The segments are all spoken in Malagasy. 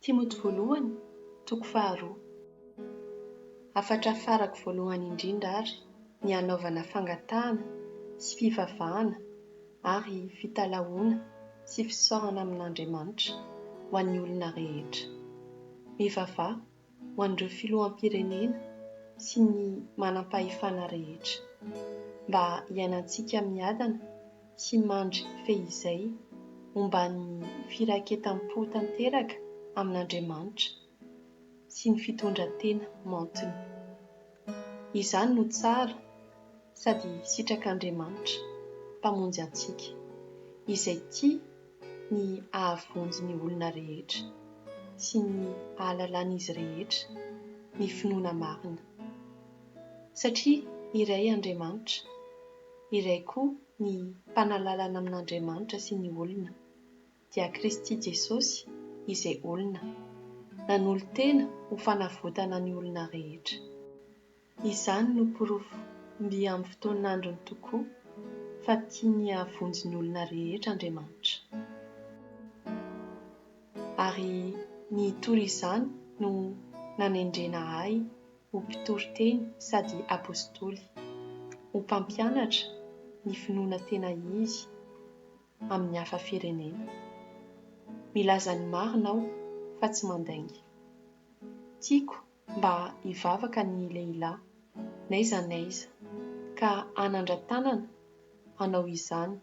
Timoty Voalohany, toko faharoa. Hafatra farako voalohany indrindra àry ny hanaovana fangatahana sy fivavahana ary fitalahoana sy fisaorana amin'Andriamanitra ho an'ny olona rehetra. Mivavaha ho an'ireo filoham-pirenena sy ny manam-pahefana rehetra, mba hiainantsika miadana sy mandry fehizay omban'ny firaiketam-po tanteraka amin'Andriamanitra sy ny fitondran-tena maontina. Izany no tsara sady sitrak'Andriamanitra, Mpamonjy antsika, izay tia ny hahavonjy ny olona rehetra sy ny hahalalan'izy rehetra ny finoana marina. Satria iray Andriamanitra, iray koa ny mpanalalana amin'Andriamanitra sy ny olona, dia Kristy Jesosy izay olona, nanolo-tena ho fanavotana ny olona rehetra. Izany no porofo mby amin'ny fotoan'androny tokoa fa tiany hahavonjy ny olona rehetra Andriamanitra. Ary ny hitory izany no nanendrena ahy ho mpitory teny sady Apostoly, ho mpampianatra ny finoana tena izy amin'ny hafa firenena. Milaza ny marina aho fa tsy mandainga. Tiako mba hivavaka ny lehilahy, n'aiza n'aiza, ka hanandra-tanana hanao izany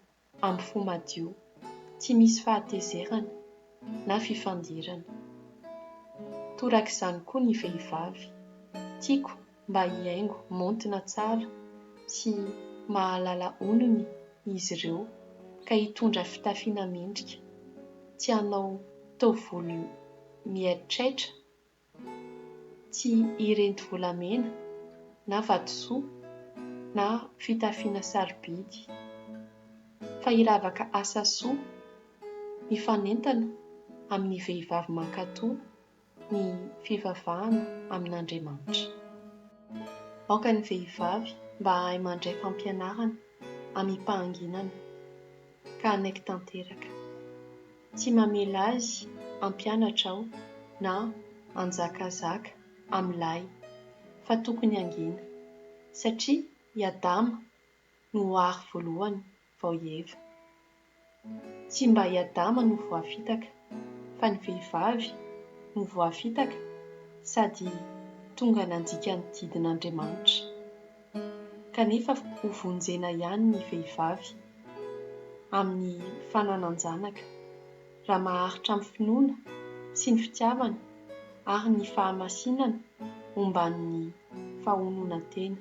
amin'ny fo madio, tsy misy fahatezerana na fifandirana. Torak'izany koa ny vehivavy. Tiako mba hihaingo maontina tsara sy mahalala onony izy ireo, ka hitondra fitafiana mendrika, tsy hanao taovolo miaitraitra Tsy hirinty volamena, na vatosoa, na fitafiana sarobidy. Fa hiravaka asa soa, mifanentana amin'ny vehivavy mankatò ny fivavahana amin'Andriamanitra. Aoka ny vehivavy mba hahay mandray fampianarana amim-pahanginana, ka hanaiky tanteraka. Tsy mamela azy hampianatra aho na hanjakazaka amin'ilay fa tokony hangina, satria i Adama no ary voalohany vao i Eva. Tsy mba i Adama no voafitaka fa ny vehivavy no voafitaka sady tonga nandika ny didin'Andriamanitra. kanefa ho vonjena ihany ny vehivavy amin'ny fananan-janaka raha maharitra amin'ny finoana sy ny fitiavana ary ny fahamasinana omban'ny fahononan-tena.